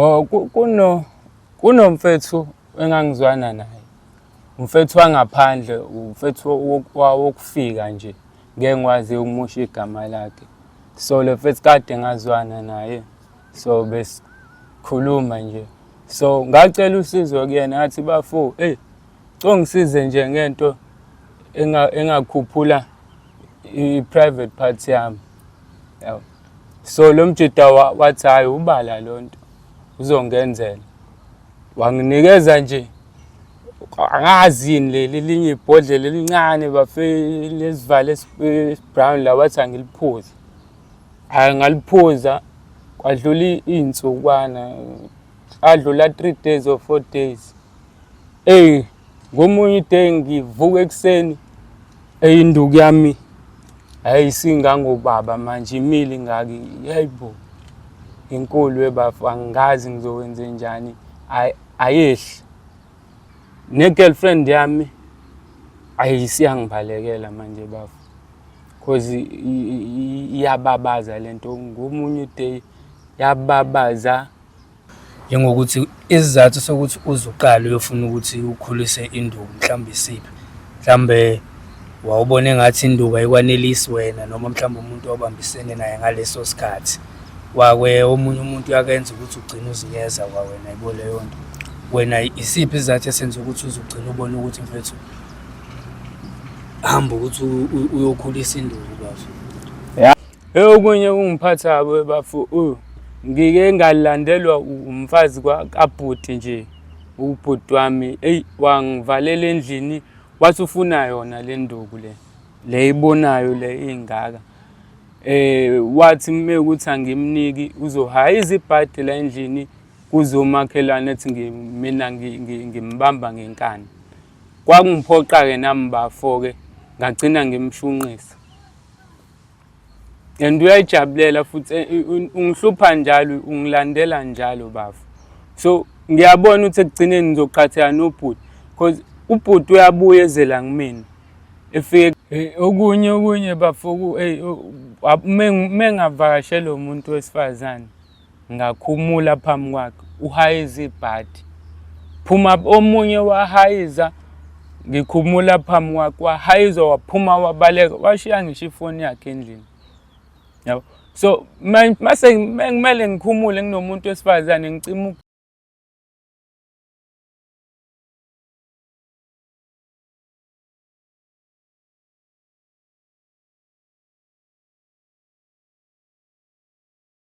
Oh kuno kunomfethu engangizwana naye. Umfethu wangaphandle, umfethu wokufika nje. Ngeke ngikwazi ukumusha igama lakhe. So le mfethu kade ngazwana naye. So besikhuluma nje. So ngacela usizo kuyena ngathi bafo, "Hey, congisize nje ngento engakhuphula i-private part yami." Yabo. so lo mjita wa- wathi hhayi ubala lo nto uzongenzela wanginikeza nje angazi yini leli linye ibhodlela elincane bafe lesivalo esi- esibrown la wathi angiliphuze hhayi ngaliphuza kwadlula i- iy'nsukwana adlula three days or four days Eyi ngomunye iday ngivuka ekuseni eyinduku yami hayi singangobaba manje imile ingaki yeyi bo inkulu webafu angazi ngizokwenze njani ayehli ne-girlfriend yami ayi siyangibalekela manje bafu cause iyababaza le nto ngomunye uday yababaza njengokuthi isizathu sokuthi uze uqale uyofuna ukuthi ukhulise induku mhlawumbe isiphi mhlawumbe wawubona engathi induku ayikwanelisi wena noma mhlawumbe umuntu owabambisene naye ngaleso sikhathi wakwe omunye umuntu uyakenza ukuthi ugcine uzinyeza kwawena yibo leyo nto wena isiphi isizathu esenza ukuthi uze ugcine ubone ukuthi mfethu hamba ukuthi uyokhulisa induku kwazo Eyokunye kungiphatha kabi bafo uh, ngike ngalandelwa umfazi kabhuti nje ubhuti wami eyi wangivalela endlini wathi ufuna yona le nduku le le ibonayo le ingaka eh wathi uma ukuthi angimniki uzohaya izibhadi la endlini kuzomakhelwane ethi mina ngimbamba ngenkani kwakungiphoqa-ke nami bafo-ke ngagcina ngimshunqisa and uyayijabulela futhi eh, ungihlupha njalo ungilandela njalo bafo so ngiyabona ukuthi ekugcineni ngizoqhatheka nobhuti because ubhuti uyabuya ezela kumina efike eh, okunye okunye bafo uma ngingavakashela umuntu wesifazane Ngakhumula phambi kwakhe, uhayize ibhadi. Phuma omunye wahayiza, ngikhumula phambi kwakhe, wahayiza waphuma wabaleka, washiya ngisho ifoni yakhe endlini. Yabo. So mase kumele ngikhumule nginomuntu wesifazane ngicima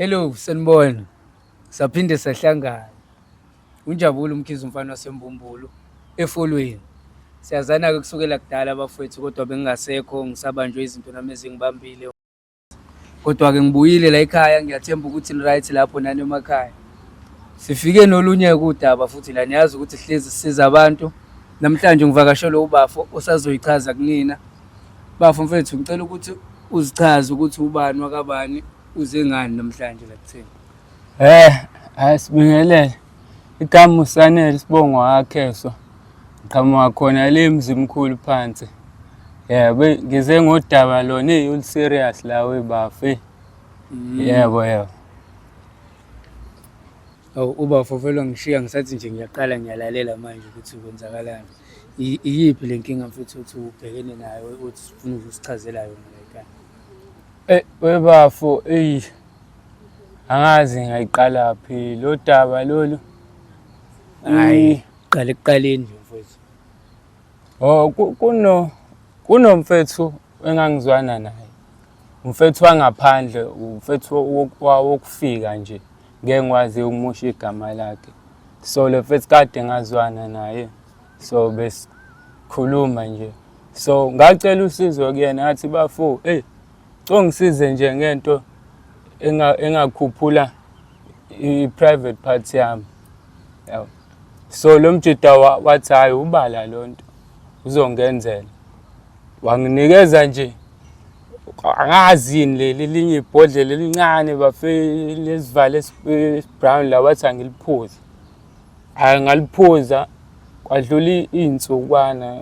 Hello, sanibona. Saphinde sahlangana. Unjabule umkhize umfana wasembumbulu efolweni. Siyazana ke kusukela kudala bafowethu kodwa bengingasekho ngisabanjwe izinto nami ezingibambile. Kodwa ke ngibuyile la ekhaya ngiyathemba ukuthi ni right lapho nani emakhaya. Sifike nolunye kudaba futhi la niyazi ukuthi sihlezi siza abantu. Namhlanje ngivakashelwe ubafo osazoyichaza kunina Bafo mfethu ngicela ukuthi uzichaze ukuthi ubani wakabani uze ngani namhlanje la kuthini. Eh, hayi sibingelele. Igama uSanele sibongo wakhe so. Ngiqhamuka khona le mzimkhulu phansi. Yebo, ngize ngodaba lona eyi ul serious la we bafi. Yebo yebo. Awu ubafo vele wangishiya ngisathi nje ngiyaqala ngiyalalela manje ukuthi kwenzakalani. I- Iyiphi le nkinga mfethu ukuthi ubhekene nayo uthi ufuna ukusichazela yona la ekhaya? Eh, webafo eyi angazi ngayiqala phi lo daba lolu Hayi, qala ekuqaleni nje mfethu. oh ku- kuno kunomfethu engangizwana naye umfethu wangaphandle umfethu wo- wo- wokufika nje ngeke ngikwazi ukumusha igama lakhe so le mfethu kade ngazwana naye so besikhuluma nje so ngacela usizo kuyena athi bafo eyi hey, congisize nje ngento engakhuphula i-private part yami yabo so lo mjida wathi hhayi ubala loo nto uzongenzela wanginikeza nje angazi yini leli linye ibhodlela elincane bafe lesivalo esibrown la wathi angiliphuze hayi ngaliphuza kwadlula iy'nsukwana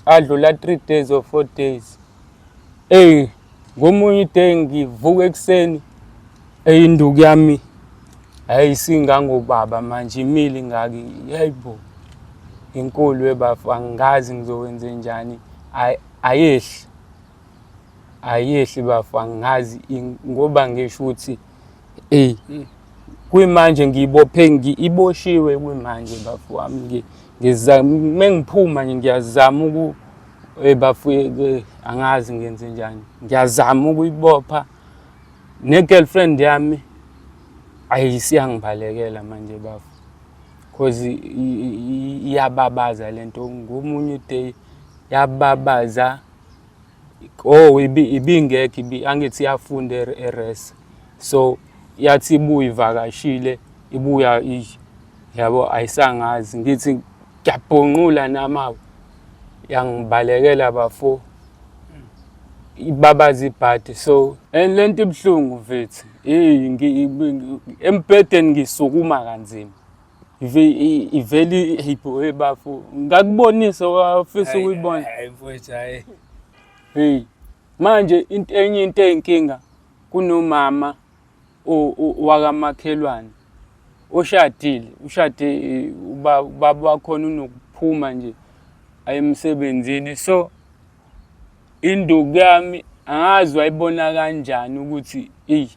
adlula three days or four days eyi ngomunye uday ngivuka ekuseni eyinduku yami hayi singangobaba manje imile ingaki hayi bo inkulu webafo angazi ngizokwenze njani ayehli ayehli bafo angazi ngoba ngisho ukuthi ey hmm. kwimanje ngibophe ngiyiboshiwe kwimanje bafo wami ngizama mengiphuma nje ngiyazama uku eh, bafo eh, angazi ngenze njani ngiyazama ukuyibopha ne girlfriend yami ayisiyangibalekela manje bafo cause iyababaza lento ngomunye day yababaza oh ibingekho ibi angithi iyafunda eres so yathi ibuye ivakashile ibuya yabo ayisangazi ngithi ngiyabhonqula namawe yangibalekela bafo ibabaza ibhadi so and lento ibuhlungu mfethu hey embhedeni ngisukuma kanzima iveli hipho hey bafo ngakubonisa wafisa ukuyibona hayi mfethu hayi hey manje into enye into eyinkinga kunomama wakamakhelwane oshadile ushade eh, ubaba wakhona unokuphuma nje ayemsebenzini so induku yami angazi wayibona kanjani ukuthi eyi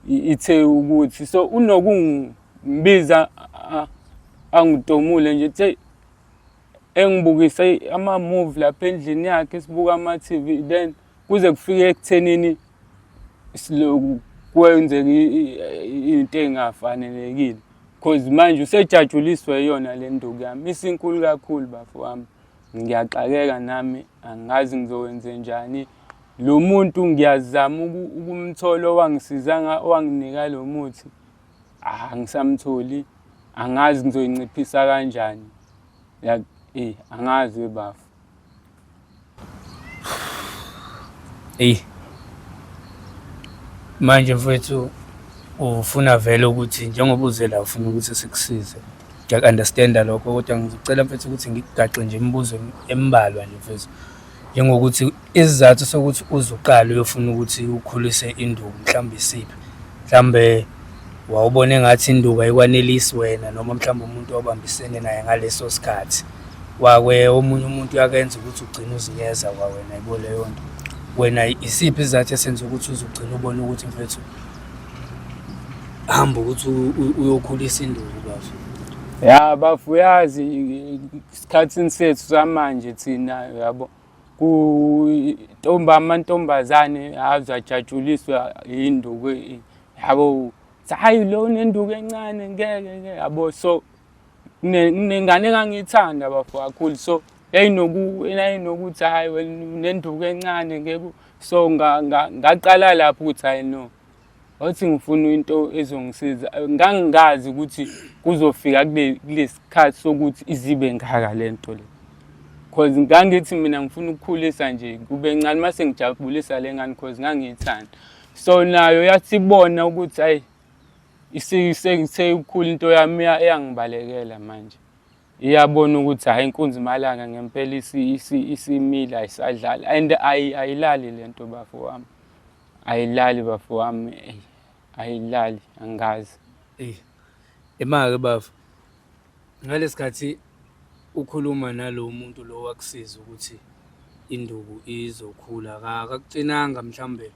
ithe ukuthi so unokungibiza angidomule nje the engibukise ama-move lapha endlini yakhe sibuka ama-tv then kuze kufike ekuthenini kwenzeka into engafanelekile cause manje usejatshuliswe yona le nduku yami isinkulu kakhulu bafo wami ngiyaxakeka nami angazi ngizokwenze njani lo muntu ngiyazama ukumthola owangisiza owanginika lo muthi ah, angisamtholi angazi ngizoyinciphisa kanjani like eh angazi webafo Eyi manje mfowethu ufuna vele ukuthi njengoba uze la ufuna ukuthi sikusize ngiyaku-understanda lokho kodwa ngicela mfethu ukuthi ngikugaxe nje imibuzo embalwa nje mfethu njengokuthi Isizathu sokuthi uze uqale uyofuna ukuthi ukhulise induku mhlawumbe isiphi mhlawumbe wawubona engathi induku ayikwanelisi wena noma mhlawumbe umuntu obambisene naye ngaleso sikhathi wakwe omunye umuntu uyakenza ukuthi ugcine uzinyeza kwawena yibo leyo nto wena isiphi isizathu esenza ukuthi uze ugcine ubone ukuthi mfethu hamba ukuthi uyokhulisa induku bazo ya bafuyazi isikhathini sethu samanje thina yabo kuntombi amantombazane aze ajatshuliswe yinduku yabo hhayi lo unenduku encane ngeke ke yabo so kunengane engangiyithanda bafo kakhulu so yayinokuthi hhayi wena unenduku encane ngeke so ngaqala lapho ukuthi hhayi no wathi ngifuna into ezongisiza ngangingazi ukuthi kuzofika kulesikhathi sokuthi izibe ngaka lento le cause ngangithi mina ngifuna ukukhulisa nje kube ncane mase ngijabulisa lengane cause ngangiyithanda so nayo yathibona ukuthi ayi isekukhulu into yami eyangibalekela manje iyabona ukuthi hayi inkunzi malanga ngempela isimile ayisadlali and ayilali lento bafo wami Ayilali bafo wami eyi, ayilali angazi. Eyi, imake bafo ngalesikhathi ukhuluma nalowo muntu lo wakusiza ukuthi induku izokhula akakucinanga mhlambe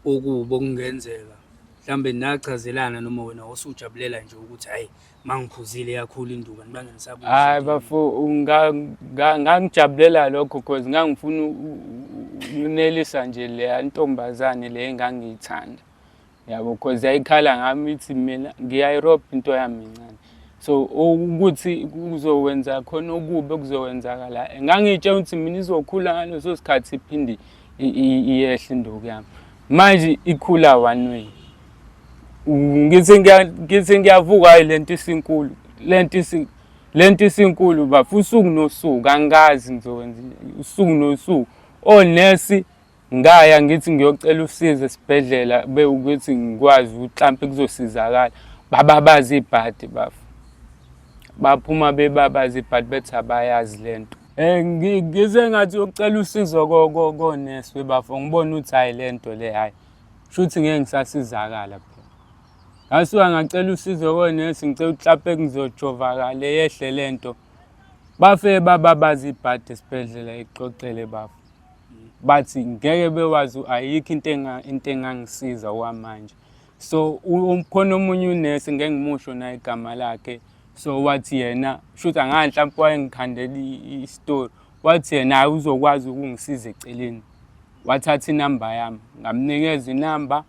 okubi okungenzeka mhlambe nachazelana noma wena wasujabulela nje ukuthi hayi mangiphuzile yakhulu induka nibanga nisabuza hayi bafo ngangijabulela lokho cause ngangifuna ukunelisa nje le ntombazane le engangiyithanda yabo cause yayikhala ngami ithi mina ngiyayiropa into yami incane so ukuthi kuzowenza khona okubi okuzokwenzakala ngangiyitshela ukuthi mina izokhula ngaleso sikhathi iphinde iyehle induku yami manje ikhula one way ngithi ngiya- ngithi ngiyavuka hayi lento isinkulu lento isi- lento isinkulu bafo usuku nosuku angazi ngizokwenza njani. usuku nosuku onesi ngaya ngithi ngiyocela usizo esibhedlela bewukuthi ngikwazi ukuthi hlampe kuzosizakala bababaza ibhadi bafo baphuma bebabaza ibhadi bethi abayazi lento Eh, ngi- ngize ngathi yocela usizo ko- ko- konesi bebafo ngibona ukuthi hhayi le nto le hhayi Shuthi ngeke ngisasizakala phela. Ngasuka ngacela usizo konesi ngicela uklape ngizojova kale yehle lento. Bafe baba bazibhadi esibhedlela ixoxele bafo. Bathi ngeke bewazi ayikho into enga into engangisiza kwamanje. So umkhona omunye unesi ngeke ngimusho na igama lakhe. So wathi yena shuthi angahle mhlawumbe wayengikhandela i-story. Wathi yena uzokwazi ukungisiza eceleni. Wathatha inamba yami, ngamnikeza inamba.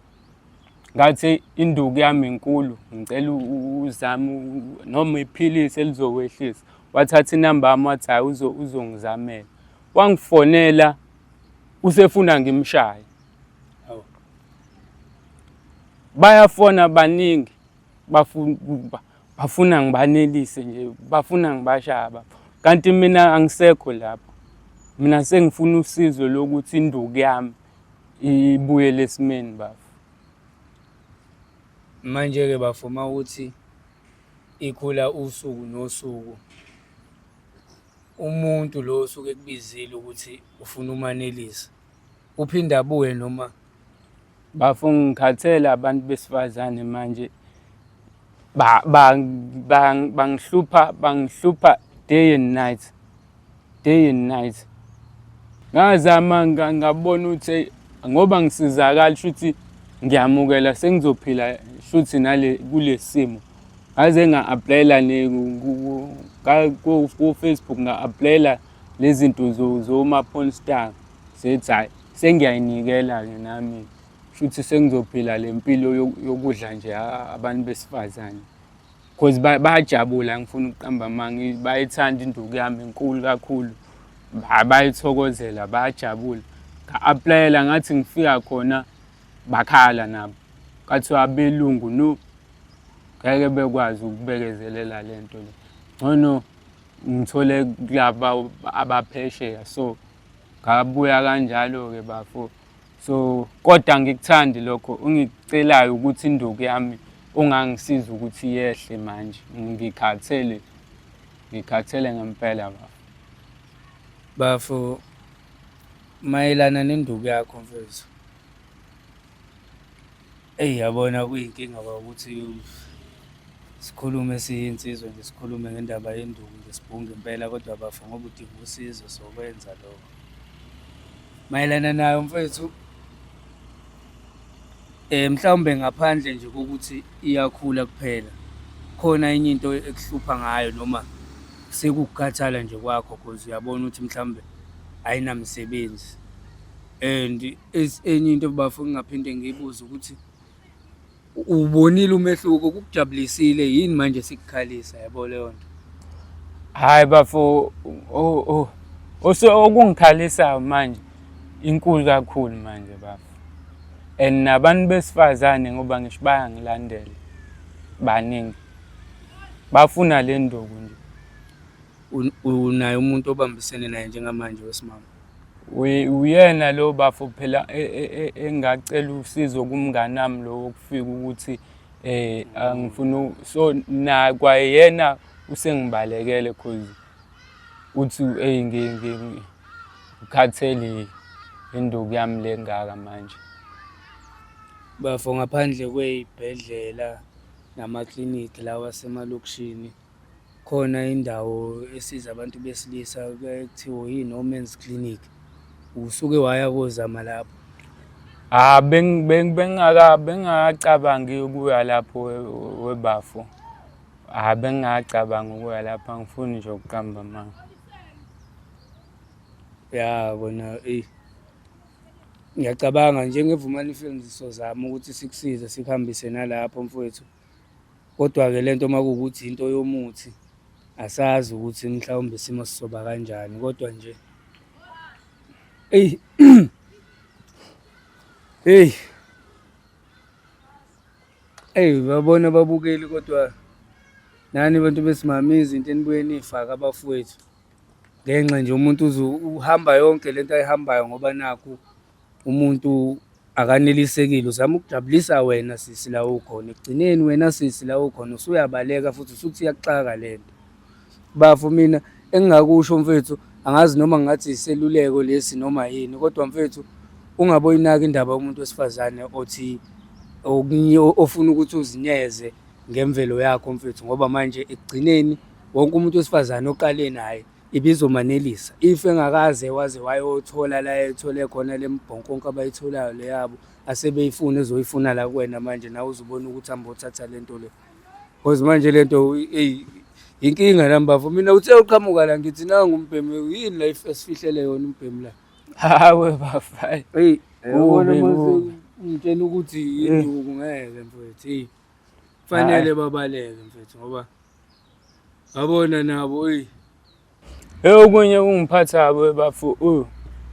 Ngathi induku yami inkulu, ngicela uzame noma iphilisi elizokwehlisa. Wathatha inamba yami wathi hhayi uzongizamela. Wangifonela usefuna ngimshaye. Bayafona baningi bafuna bafuna ngibanelise nje bafuna ngibashaba kanti mina angisekho lapho mina sengifuna usizo lokuthi induku yami ibuyele esimeni bafo manje-ke bafo uma ukuthi ikhula usuku nosuku umuntu lo osuke ekubizile ukuthi ufuna umanelisa uphinde abuye noma bafo ngikhathele abantu besifazane manje bangihlupha bangihlupha day and night day and night ngazama ngabona ukuthi ngoba ngisizakala shuthi ngiyamukela sengizophila shuthi nale kulesimo ngaze nga-aplayela ku-facebook nga-aplayela lezi zinto zoma-porn star zethi hhayi sengiyayinikela-ke nami shuthi sengizophila le mpilo yokudla nje abantu besifazane because bayajabula ngifuna ukuqamba amanga bayithanda induku yami inkulu kakhulu bayithokozela bayajabula nga-aplayela ngathi ngifika khona bakhala nabo kathiwa abelungu no ngeke bekwazi ukubekezelela le nto le ngcono ngithole kulaba abaphesheya so ngabuya kanjalo-ke bafo so kodwa ngikuthandi lokho ungicelayo ukuthi induku yami ungangisiza ukuthi yehle manje ngikhathele ngikhathele ngempela bafo bafo mayelana nenduku yakho mfethu Eyi yabona kuyinkinga ba ukuthi sikhulume siyinsizwa nje sikhulume ngendaba yenduku nje sibhunge impela kodwa bafo ngoba udinga usizo sokwenza lokho. Mayelana nayo mfethu eh mhlawumbe ngaphandle nje kokuthi iyakhula kuphela khona enye into ekuhlupha ngayo noma sekukukhathala nje kwakho cause uyabona ukuthi mhlawumbe ayinamsebenzi and Enye into bafo ngingaphinde ngiyibuze ukuthi ubonile umehluko kukujabulisile yini manje sikukhalisa yabo leyo nto hayi bafo oh oh ose okungikhalisayo manje inkulu kakhulu manje bafo and nabantu besifazane ngoba ngisho bayangilandela baningi bafuna le nduku nje unaye umuntu obambisene naye njengamanje wesimama uyena lo bafo phela e, e, e, engacela usizo kumnganami lo wokufika ukuthi eh angifuna so na kwayena usengibalekele cause uthi hey ngikhathele induku yami lengaka manje bafo ngaphandle kweyibhedlela nama clinic lawa semalokishini Khona indawo esiza abantu besilisa kuthiwa yi-no man's clinic usuke waya kozama lapho Ah beng bengaka bengakacabangi ukuya lapho webafo. Ah bengakacabangi ukuya lapho angifuni nje ukuqamba mama. Ya kona ey. Ngiyacabanga njengevumani films sozama ukuthi sikusize sikuhambise nalapho mfowethu. Kodwa-ke le nto uma kuwukuthi into yomuthi asazi ukuthi mhlawumbe isimo sizoba kanjani kodwa nje eyi eyi eyi babona babukeli kodwa nani bantu besimame izinto enibuye niyifake abafowethu ngenxa nje umuntu uhamba yonke le nto ayihambayo ngoba nakhu umuntu akanelisekile uzama ukujabulisa wena sisi la ukhona ekugcineni wena sisi la ukhona usuyabaleka futhi usuthi iyakuxaka le nto bafo mina engingakusho mfethu angazi noma ngathi iseluleko lesi noma yini kodwa mfethu ungaboyinaki indaba yomuntu wesifazane othi ofuna ukuthi uzinyeze ngemvelo yakho mfethu ngoba manje ekugcineni wonke umuntu wesifazane oqale naye ibizomanelisa if engakaze waze wayothola la ethole khona le mbhonkonke abayitholayo le yabo asebeyifuna ezoyifuna la kuwena manje nawe uzubona ukuthi hamba othatha le nto le because manje le nto eyi yinkinga la mbafo mina uthe uqhamuka la ngithi nangu umbhemu yini la esifihlele yona umbhemu la hawe bafayi eyi ubona mase ngitshela ukuthi yinduku ngeke mfethu eyi kufanele babaleke mfethu ngoba Yabona nabo eyi. Hey okunye kungiphatha bo bafu u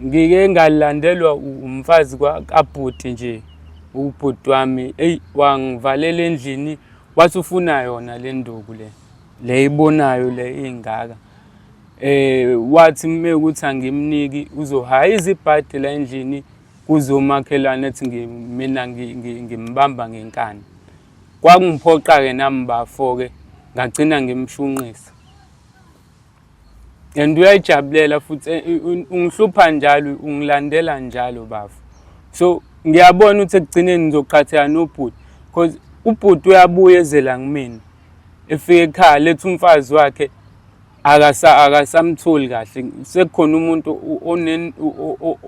ngike ngalandelwa umfazi kabhuti nje ubhuti wami eyi wangivalela endlini wathi ufuna yona le nduku le le ibonayo le ingaka eh wathi uma ukuthi angimniki uzohayiza ibhadi la endlini kuzomakhelwane ethi mina ngimbamba ngenkani Kwangiphoqa-ke nami bafo-ke ngagcina ngimshunqisa and uyayijabulela futhi eh, ungihlupha njalo ungilandela njalo bafo so ngiyabona ukuthi ekugcineni ngizoqhatheka nobhuti because ubhuti uyabuya ezela kumina efike ekhaya lethi umfazi wakhe akasa akasamtholi kahle sekukhona umuntu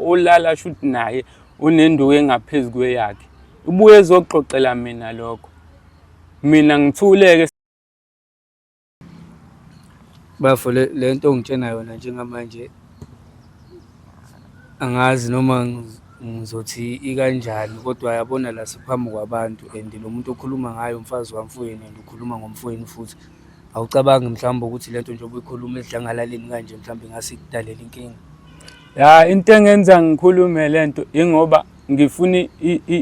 olala shuthi naye unenduku engaphezu kweyakhe ubuye ezoxoxela mina lokho mina ngithuleke bafo le nto ongitshena yona njengamanje angazi noma ngizothi ikanjani kodwa yabona la siphambi kwabantu and lo muntu okhuluma ngayo umfazi wamfowenu and ukhuluma ngomfowenu futhi awucabangi mhlawumbe ukuthi le nto njengoba uyikhuluma edlangalaleni kanje mhlawumbe ingase ikudalela inkinga Ya into engenza ngikhulume lento ingoba ngifuna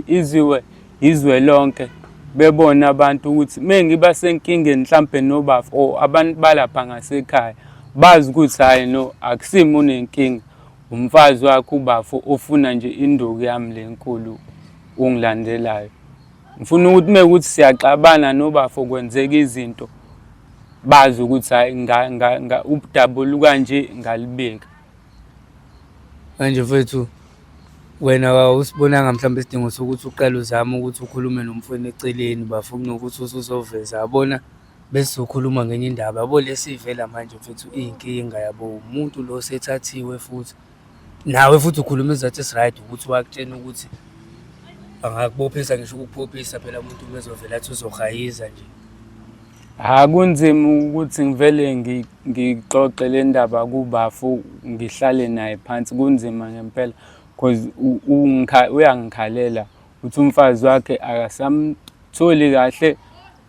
iziwe izwe lonke bebona abantu ukuthi mengiba senkingeni mhlambe nobafu or abantu balapha ngasekhaya bazi ukuthi hayi no akusimi unenkinga umfazi wakho ubafo ufuna nje induku yami lenkulu ungilandelayo ngifuna ukuthi mekuthi siyaxabana nobafo kwenzeka izinto bazi ukuthi hayi ubudabulu kanje ngalibeka manje mfethu wena awusibonanga mhlawumbe isidingo sokuthi uqale uzame ukuthi ukhulume nomfweni eceleni bafo kunokuthi usuzoveza yabona besizokhuluma ngenye indaba yabo lesivela manje mfethu iy'nkinga yabo umuntu lo sethathiwe futhi nawe futhi ukhuluma izathi esi-right ukuthi wakutshena ukuthi angakuphophisa ngisho ukukuphophisa phela umuntu umezovela athi uzohayiza nje Ha kunzima ukuthi ngivele ngixoxe le ndaba kubafu ngihlale naye phansi kunzima ngempela cause uyangikhalela uthi umfazi wakhe akasamtholi kahle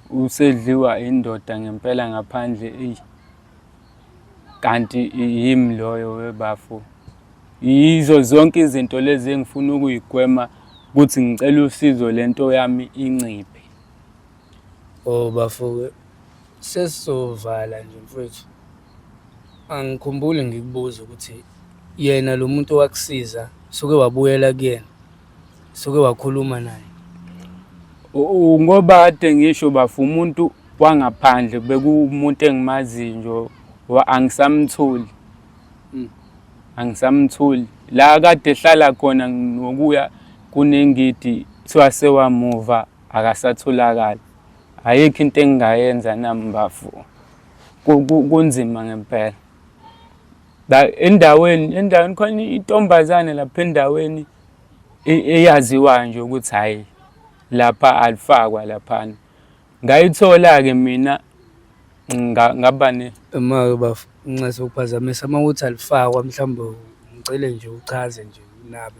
usedliwa indoda ngempela ngaphandle eyi kanti yimi loyo webafo yizo zonke izinto lezi engifuna ukuyigwema ukuthi ngicela usizo lento yami inciphe Oh bafo sesizovala nje mfwethu, angikhumbuli ngikubuza ukuthi yena lo muntu owakusiza suke wabuyela kuyena suke wakhuluma naye U- u- ngoba kade ngisho bafu umuntu wangaphandle bekuwumuntu engimaziyo nje wa- angisamtholi Mm. angisamtholi la kade ehlala khona nokuya kunengidi kuthiwa sewamuva akasatholakali ayikho into engingayenza nami mbavu kunzima ngempela la endaweni endaweni khona intombazane lapha endaweni e, eyaziwayo nje ukuthi hayi lapha alifakwa laphana ngayithola-ke mina ngaba ne uma-ke bafo nginxese ukuphazamisa uma ukuthi alifakwa mhlawumbe ngicele nje uchaze nje unabe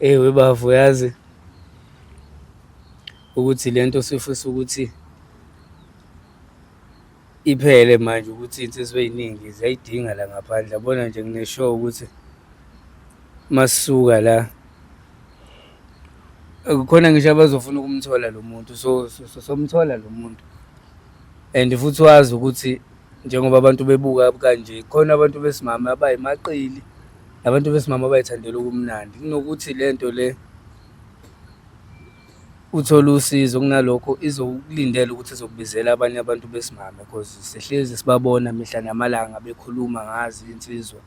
Eyi webafo yazi ukuthi le nto sifisa ukuthi iphele manje ukuthi insizwa ey'ningi ziyayidinga la ngaphandle yabona nje ngineshow ukuthi masisuka la kukhona ngisho abazofuna ukumthola lo muntu so somthola lo muntu and futhi wazi ukuthi njengoba abantu bebuka kanje khona abantu besimame abayimaqili Abantu besimama bayithandela ubumnandi kunokuthi le nto le uthole usizo kunalokho izokulindela ukuthi izokubizela abanye abantu besimame because sihlezi sibabona mihla namalanga bekhuluma ngazi insizwa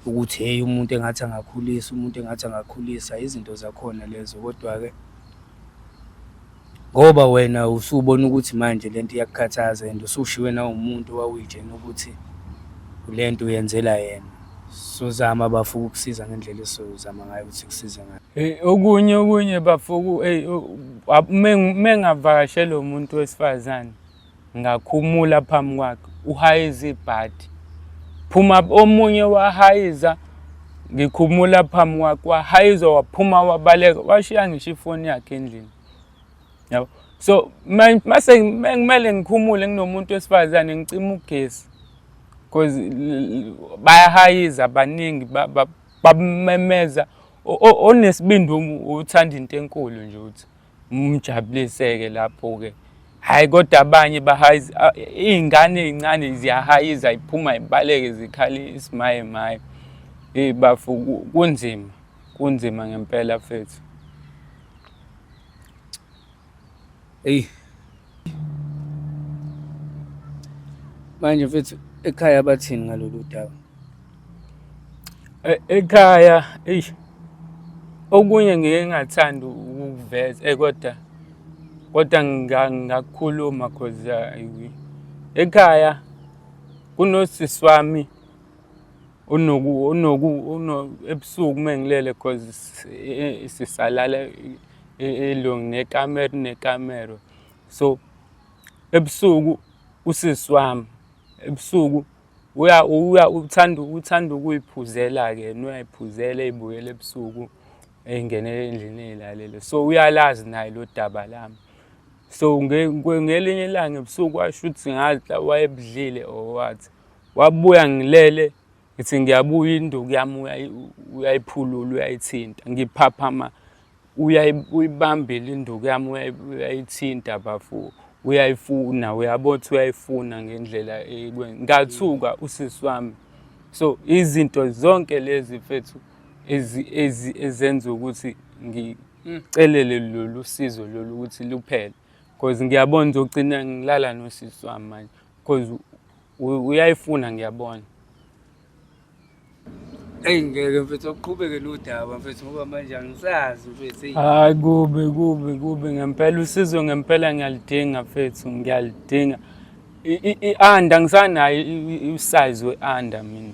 ukuthi hheyi umuntu engathi angakhulisa umuntu engathi angakhulisa izinto zakhona lezo kodwa-ke Ngoba wena usubona ukuthi manje le nto iyakukhathaza and usushiywe nawumuntu owawuyitshena ukuthi le nto uyenzela yena. Sozama bafo ukukusiza ngendlela esizozama ngayo ukuthi kusize ngayo. Eh, okunye okunye bafo uma ngingavakashela umuntu wesifazane Ngakhumula phambi kwakhe, uhayize ibhadi. Phuma omunye wahayiza, ngikhumula phambi kwakhe, wahayiza waphuma wabaleka, washiya ngisho ifoni yakhe endlini. Yabo. So mase kumele ngikhumule nginomuntu wesifazane ngicima ugesi. Cause bayahayiza abaningi babamemeza onesibindi uthanda into enkulu nje uthi. Umjabuliseke lapho-ke. Hhayi kodwa abanye bahayi iy'ngane ey'ncane ziyahayiza iphuma ibaleke zikhale isimaye maye. Eyi bafo kunzima, kunzima ngempela mfethu. Eyi. manje mfethu ekhaya bathini ngalolu daba e-, ekhaya eish okunye ngike ngathanda ukuveza eh kodwa kodwa ngakukhuluma cause eh, ekhaya kunosisi wami unoku unoku ebusuku mengilele cause eh, sisalala ilungu nekamero nekamero so ebusuku usisi wami ebusuku uya uya uthanda uthanda ukuyiphuzela ke uyayiphuzela ibuyele ebusuku engenele endlini eyilalele so uyalazi naye lo daba lami so ngelinye ilanga ebusuku washo ukuthi ngathi wayebudlile or what wabuya ngilele ngithi ngiyabuya induku yami uyayiphulula uyayithinta ngiphaphama uyibambela induku yami uyayithinta bafo uyayifuna uyabo ukuthi uyayifuna ngendlela ngathuka usisi wami so izinto zonke lezi mfethu ezenza ukuthi ngicelele lolu sizo lolu ukuthi luphele because ngiyabona ukuthi ugcina ngilala nosisi wami manje because U- uyayifuna ngiyabona eyi ngeke mfethu uqhubeke nodaba mfethu ngoba manje angisazi mfethu eyi hayi kubi kubi kubi ngempela usizo ngempela ngiyalidinga fethu ngiyalidinga I- i- i-anda ngisanayo i- i- usize we-anda mina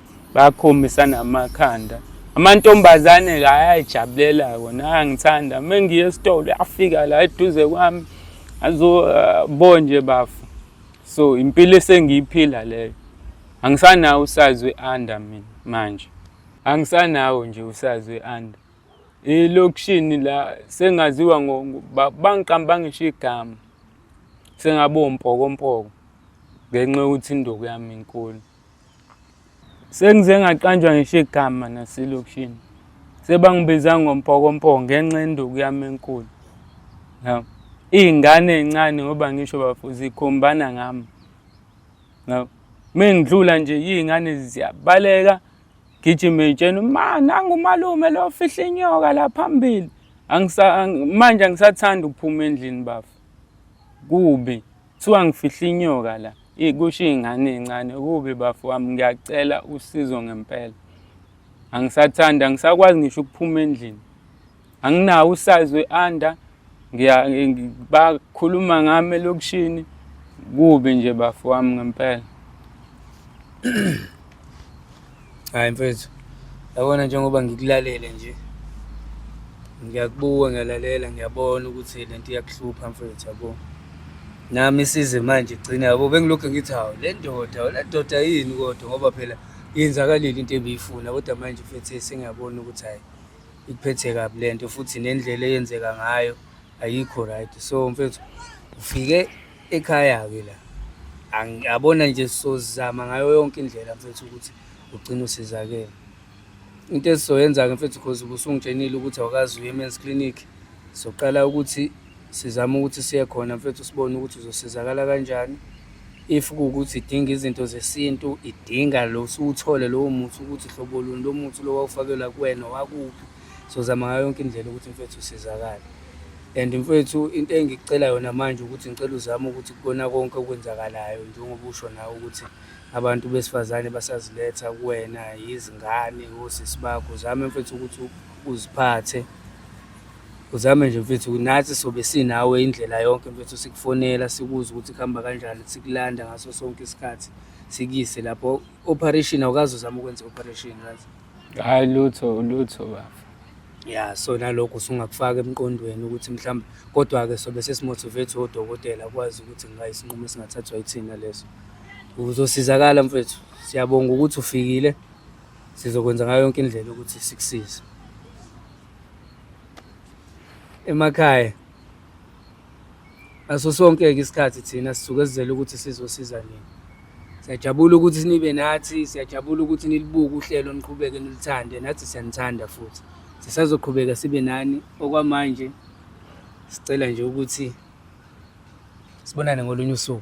bakhombisana amakhanda amantombazane la ayayijabulela kona ayangithanda uma ngiye esitolo afika la eduze kwami azobonje uh, bafu so impilo esengiyiphila leyo angisanawo usazi we-under mina manje angisanawo nje usazi we-under elokishini la sengaziwa bangiqamba ngisho igama sengabompokompoko ngenxa yokuthi indoku yami inkulu Sengize ngaqanjwa ngisho igama naselokishini. Sebangibiza ngompokompo ngenxa yenduku yami enkulu. Ya. Izingane ezincane ngoba ngisho bafo zikhombana ngami. Ya. Mengidlula nje izingane ziyabaleka gijima itshena ma nangu umalume lo fihla inyoka la phambili. Angisa manje angisathanda ukuphuma endlini bafo. Kubi. Kuthiwa ngifihle inyoka la. Eyi kusho iy'ngane ey'ncane. Kubi bafo wami ngiyacela usizo ngempela. Angisathandi, angisakwazi ngisho ukuphuma endlini. Anginawo usayizi we-under. Bakhuluma ngami elokishini. Kubi nje bafo wami ngempela. Hayi mfethu, yabona njengoba ngikulalele nje ngiyakubuka ngiyalalela ngiyabona ukuthi le nto iyakuhlupha mfethu yabo nami isize manje gcina yabo bengilokhu ngithi hawu le ndoda le ndoda yini kodwa ngoba phela yenzakalile into ebiyifuna kodwa manje mfethu sengiyabona ukuthi hayi ikuphethe kabi le nto futhi nendlela eyenzeka ngayo ayikho right so mfethu ufike ekhaya-ke la yabona nje sizozama ngayo yonke indlela mfethu ukuthi ugcine usizakele into esizoyenza-ke mfethu because ubusungitshenile ukuthi awukazi uye men's clinic soqala ukuthi sizame ukuthi siye khona mfethu sibone ukuthi uzosizakala kanjani if kuwukuthi idinga izinto zesintu idinga lo siwuthole lowo muthi ukuthi hlobo luni lo muthi lo wawufakelwa kuwena wakuphi sozama ngayo yonke indlela ukuthi mfethu usizakale and mfethu into engikucela yona manje ukuthi ngicela uzame ukuthi kukona konke okwenzakalayo njengoba usho nawe ukuthi abantu besifazane basaziletha kuwena yizingane osisi bakho uzame mfethu ukuthi uziphathe uzame nje mfethu nathi sobe sinawe indlela yonke mfethu sikufonela sikuze ukuthi kuhamba kanjani sikulanda ngaso sonke isikhathi sikuyise lapho operation awukazi uzama ukwenza operation right Hayi lutho lutho bafo. Ya so nalokho usungakufaka emqondweni ukuthi mhlawumbe kodwa ke sobe sesimotivate odokotela kwazi ukuthi ngayisinqumo singathathwa yithina leso. Uzosizakala mfethu. Siyabonga ukuthi ufikile. Sizokwenza ngayo yonke indlela ukuthi sikusize. Emakhaya ngaso sonke-ke isikhathi thina sisuke sizele ukuthi sizosiza nini siyajabula ukuthi nibe nathi siyajabula ukuthi nilibuke uhlelo niqhubeke nilithande nathi siyanithanda futhi sisazoqhubeka sibe nani okwamanje sicela nje ukuthi sibonane ngolunye usuku